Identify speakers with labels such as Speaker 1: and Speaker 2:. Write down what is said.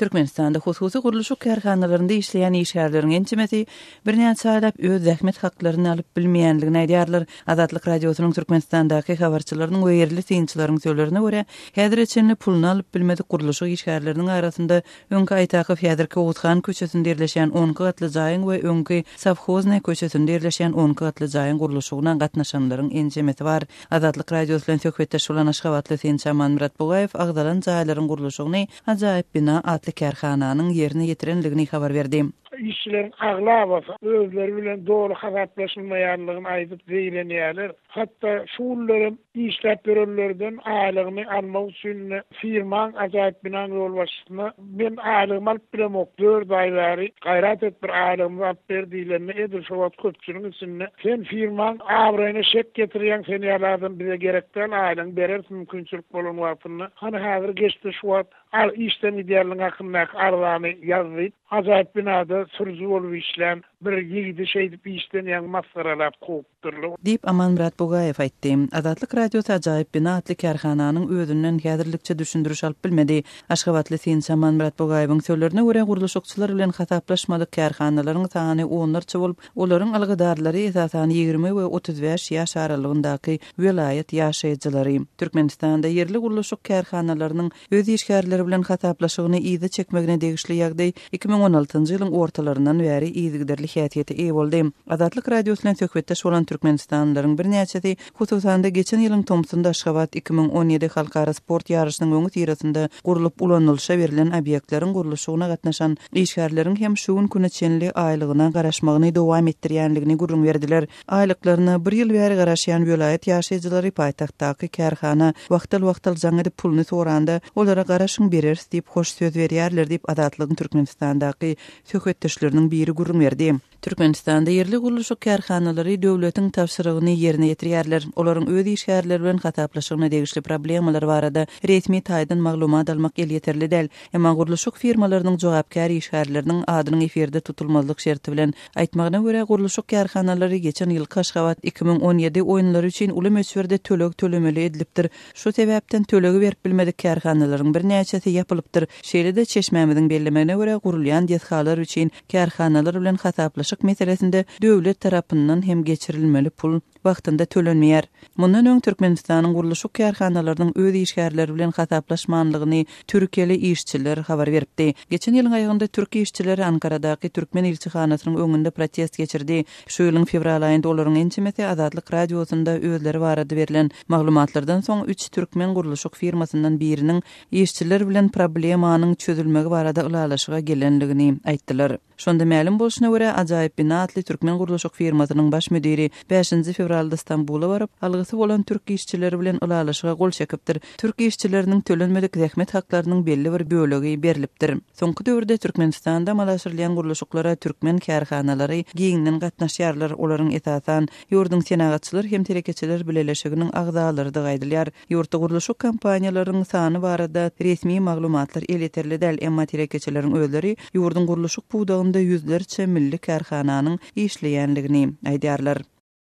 Speaker 1: Türkmenistanda hususy gurluşyk kärhanalarynda işleýän işgärleriň ençemesi birnäçe aýlap öz zähmet haklaryny alyp bilmeýändigini aýdýarlar. Azatlyk Radiosynyň Türkmenistandaky habarçylarynyň we ýerli synçylaryň sözlerine görä, häzire çenli puluny alyp bilmedik gurluşyk işgärleriniň arasynda öňki Aýtakow, häzirki Oguzhan köçesinde ýerleşýän onki gatly jaýyň we öňki Sowhoznaý köçesinde ýerleşýän onki gatly jaýyň gurluşygyna gatnaşanlaryň ençemesi bar. Azatlyk Radiosy bilen söhbetdeş bolan aşgabatly synçy Amanmyrat Bugaýew agzalan jaýlaryň gurluşygyny Ajaýyp bina atly kärhananyň ýerine ýetirendigini habar berdi. Işçileriň
Speaker 2: aglabasy özleri bilen doly hasaplaşylmaýandygyny aýdyp zeýrenýärler. Hatda şu günler hem işläp ýörenlerden aýlygyny almak üçin ine, firmaň, Ajaýyp binaň ýolbaşçysyna men aýlygymy alyp bilemok, dört aý bäri gaýrat et bir aýlygymyzy alyp ber diýlende edil şo wagt köpçüligiň içinde Sen firmaň abraýyna şek getirýäň sen ýaly adam bize gerek däl aýlygyňy bereris mümkinçilik bolan wagtynda hany häzir geçdi şu wagt al işden gidýänligiň hakyndaky arzany ýaz diýip ajaýyp binada sürüji bolup işlän bir ýigidi şeýdip işden ýaňy masgaralap kowupdyrlar. Diýip, Amanmyrat
Speaker 1: Bugaýew aýtdy. Azatlyk Radiosy Ajaýyp bina atly kärhananyň özünden häzirlikçe düşündiriş alyp bilmedi. Aşgabatly synçy Amanmyrat Bugaýewiň sözlerine görä, gurluşykçylar bilen hasaplaşmadyk kärhanalaryň sany onlarça bolup, Olaryň algydarlary, esasan, ýigrimi we otuz bäş ýaş aralygyndaky welaýat ýaşaýjylary. Türkmenistanda ýerli gurluşyk kärhanalarynyň öz işgärleri bilen hasaplaşygyny yza çekmegine degişli ýagdaý iki müň on altynjy ýylyň ortalaryndan bäri yzygiderli häsiýete eýe boldy. Azatlyk Radiosy bilen söhbetdeş bolan türkmenistanlylaryň birnäçesi Hususan-da, geçen ýylyň tomsunda Aşgabat iki müň on ýedi halkara sport ýaryşynyň öňüsyrasynda gurlup ulanylyşa berlen obýektleriň gurluşygyna gatnaşan işgärleriň hem şu gün güne çenli aýlygyna garaşmagyny dowam etdirýändigini gürrüň berdiler. Aýlyklaryna bir ýyl bäri garaşýan welaýat ýaşaýjylary paýtagtdaky kärhana wagtal-wagtal jaň edip puluny soranda, olara garaşyň bereris diýip hoş söz berýärler diýip, Azatlygyň Türkmenistandaky söhbetdeşleriniň biri gürrüň berdi. Türkmenistanda ýerli gurluşyk kärhanalary döwletiň tabşyrygyny ýerine ýetirýärler. Olaryň öz işgärleri bilen hasaplaşygyna degişli problemalar barada resmi taýdan maglumat almak elýeterli däl. Emma gurluşyk firmalarynyň jogapkär işgärleriniň adynyň efirde tutulmazlyk şerti bilen aýtmagyna görä, gurluşyk kärhanalary geçen ýylky Aşgabat iki müň on ýedi oýunlary üçin uly möçberde töleg tölemeli edilipdir. Şu sebäpden tölegi berip bilmedik kärhanalaryň birnäçesi ýapylypdyr. Şeýle-de, çeşmämiziň bellemegine görä, gurulýan desgalar üçin kärhanalar bilen hasaplaşyk meselesinde döwlet tarapyndan hem geçirilmeli pul wagtynda tölenmeýär. Mundan öň Türkmenistanyň gurluşyk kärhanalarynyň öz işgärleri bilen hasaplaşmanlygyny türkiýeli işçiler habar beripdi. Geçen ýylyň aýagynda türk işçileri Ankaradaky türkmen ilçihanasynyň öňünde protest geçirdi. Şu ýylyň fewral aýynda olaryň ençemesi Azatlyk Radiosynda özleri barada berlen maglumatlardan soň üç türkmen gurluşyk firmasyndan biriniň işçiler bilen problemanyň çözülmegi barada ylalaşyga gelenligini aýtdylar. Şonda mälim bolşuna görä, Ajaýyp bina atly türkmen gurluşyk firmasynyň baş müdiri bäşinji fewralda Stambula baryp, algysy bolan türk işçileri bilen ylalaşyga gol çekipdir, türk işçileriniň tölenmedik zähmet haklarynyň belli bir bölegi berlipdir. Soňky döwürde Türkmenistanda amala aşyrylýan gurluşyklara türkmen kärhanalary giňden gatnaşýarlar, olaryň esasan, ýurduň Senagatçylar hem telekeçiler bileleşiginiň agzalarydygy aýdylýar. Ýurtda gurluşyk kompaniýalaryň sany barada resmi maglumatlar elýeterli däl, emma telekeçileriň özleri ýurduň gurluşyk pudagynda ýüzlerçe milli kärhananyň işleýänligini aýdýarlar.